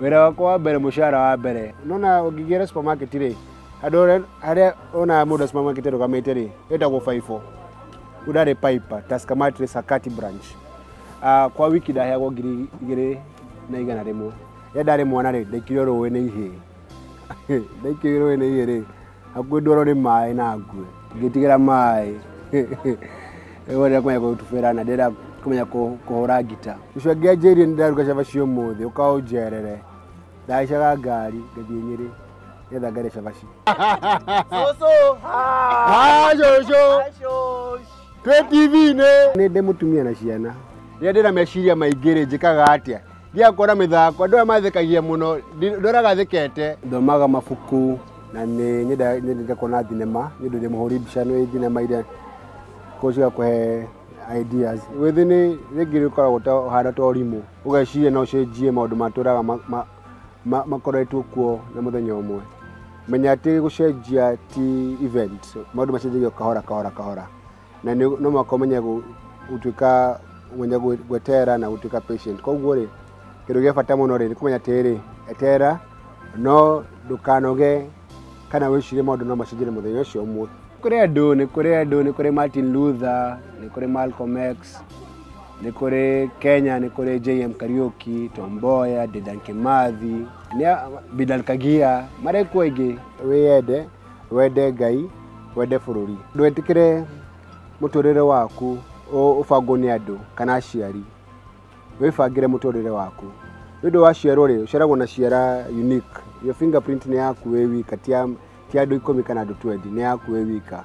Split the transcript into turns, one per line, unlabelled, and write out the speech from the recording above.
wĩra wakwa wa mbere mũcara wa mbere nona ũngĩgĩra supermarket rĩ andũ arĩa- arĩa onaga mũndũ wa supermarket arũgamĩte rĩ ĩtagwo baibũ udare pipe taskamatre sakati branch uh, kwa wiki ndaheagwo ngiri igĩrĩ na igana rĩmwe rĩrĩa ndarĩ mwana rĩ ndaikire rũĩ nĩ ihĩ ndaikire rũĩ nĩ ihĩ rĩ hakuhĩ ndwaro nĩ maĩ na ngue ngĩtigĩra maĩ wonera kũmenya gũtubĩra na ndĩra kũmenya kũhũra ngita ũcio angĩanjĩrie nĩ ndaruga cabaci ũmũthĩ ũkaũnjerere ndacaga ngari ngathiĩ nyĩrĩ nĩgetha ngare cabaci twĩ tv-inĩ nĩ ndĩ mũtumia na ciana rĩrĩa ndĩna meciria maingĩ rĩ njĩkaga atĩa Thiaga kuona mĩthako, andũ aya mathekagia mũno, ndi- ndoraga thikete. Thomaga mabuku na nĩ nyenda- nyendete kuona thinema, nĩ ũndũ ndĩ mũhũri mbica nĩ thinema iria ko cigakũhe ideas. Wĩthĩ nĩ rĩngĩ rĩkoragwo ta ũhana ta ũrimũ, ũgeciria no ũcenjie maũndũ matũraga ma- ma- ma- makoretwo kuo na mũthenya ũmwe. Menya atĩ gũcenjia ti event, maũndũ macenjagia o kahora kahora kahora. na nĩ no mũhaka ũmenye gũ- gũtuĩka ũmenye gwe- gweterera na gũtuĩka patient koguo rĩ kĩndũ gĩa bata mũno rĩ nĩ kũmenya atĩrĩ eterera no ndũkanoge kana wĩcirie maũndũ no macenjire mũthenya ũcio ũmwe kũrĩ andũ nĩ kũrĩ andũ nĩ kũrĩ martin luther nĩ kũrĩ malcolm x nĩ kũrĩ kenya nĩ kũrĩ jm kariuki tomboya dedan kimathi nĩ a- bidan kagia marekwo aingĩ wĩyende wende Ngai, wende bũrũri. Ndwetĩkĩre mũtũrĩre waku ũbangwo nĩ andũ kana aciari, wĩbangĩre mũtũrĩre waku. Nĩ ũndũ waciarwo rĩ, ũciaragwo na ciara unique. Your finger print nĩ yaku wĩ wika ti ya andũ ikũmi kana andũ twendi, nĩ yaku wĩ wika.